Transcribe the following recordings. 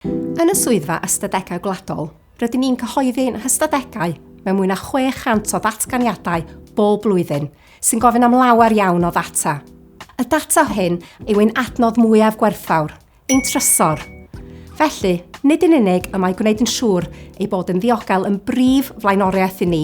Yn y Swyddfa Ystadegau Gwladol, rydyn ni'n cyhoeddi'n hystadegau mewn mwy na 600 o ddatganiadau bob blwyddyn, sy'n gofyn am lawer iawn o ddata. Y data hyn yw ein adnodd mwyaf gwerthfawr, ein trysor. Felly, nid yn unig y mae gwneud yn siŵr ei bod yn ddiogel yn brif flaenoriaeth i ni,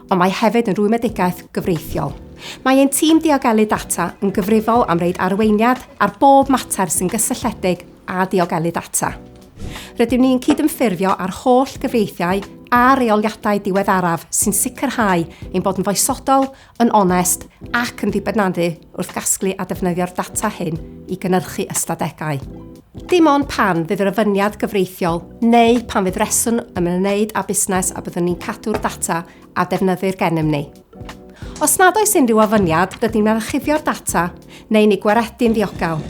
ond mae hefyd yn rwymedigaeth gyfreithiol. Mae ein tîm diogelu data yn gyfrifol am reid arweiniad ar bob mater sy'n gysylltiedig a diogelu data. Rydym ni'n cydymffurfio â'r holl gyfreithiau a reoliadau diweddaraf sy'n sicrhau ein bod yn foesodol, yn onest ac yn ddibynaddu wrth gasglu a defnyddio'r data hyn i gynyrchu ystadegau. Dim ond pan fydd yr ofyniad gyfreithiol neu pan fydd rheswm yn ymwneud â busnes a byddwn ni'n cadw'r data a defnyddir gennym ni. Os nad oes unrhyw ofyniad, rydyn ni'n archifio'r data neu'n ei gwaredu'n ddiogel.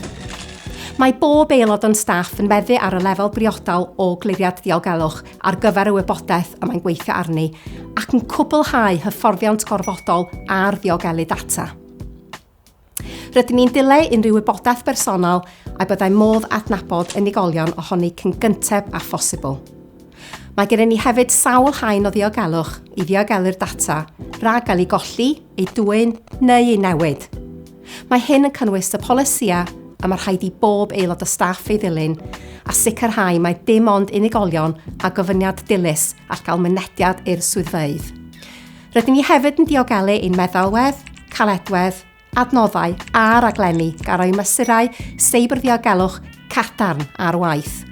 Mae bob aelod o'n staff yn meddu ar y lefel briodol o gliriad diogelwch ar gyfer y wybodaeth y mae'n gweithio arni ac yn cwblhau hyfforddiant gorfodol ar ddiogelu data. Rydyn ni'n dileu unrhyw wybodaeth bersonol a byddai modd adnabod unigolion ohoni cyn gynteb â phosibl. Mae gennym ni hefyd sawl haen o ddiogelwch i ddiogelu'r data rhag gael ei golli, ei dwyn neu ei newid. Mae hyn yn cynnwys y polisïau y mae rhaid i bob aelod o staff ei ddilyn a sicrhau mai dim ond unigolion â gofyniad dilys all gael mynediad i'r swyddfeydd. Rydyn ni hefyd yn diogelu ein meddalwedd, caledwedd, adnoddau a raglenni gan roi mesurau seibrddiolgelwch cadarn ar waith.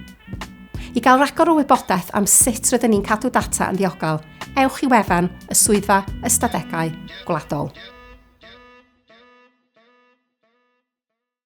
I gael rhagor o wybodaeth am sut rydyn ni'n cadw data yn ddiogel, ewch i wefan y Swyddfa Ystadegau Gwladol.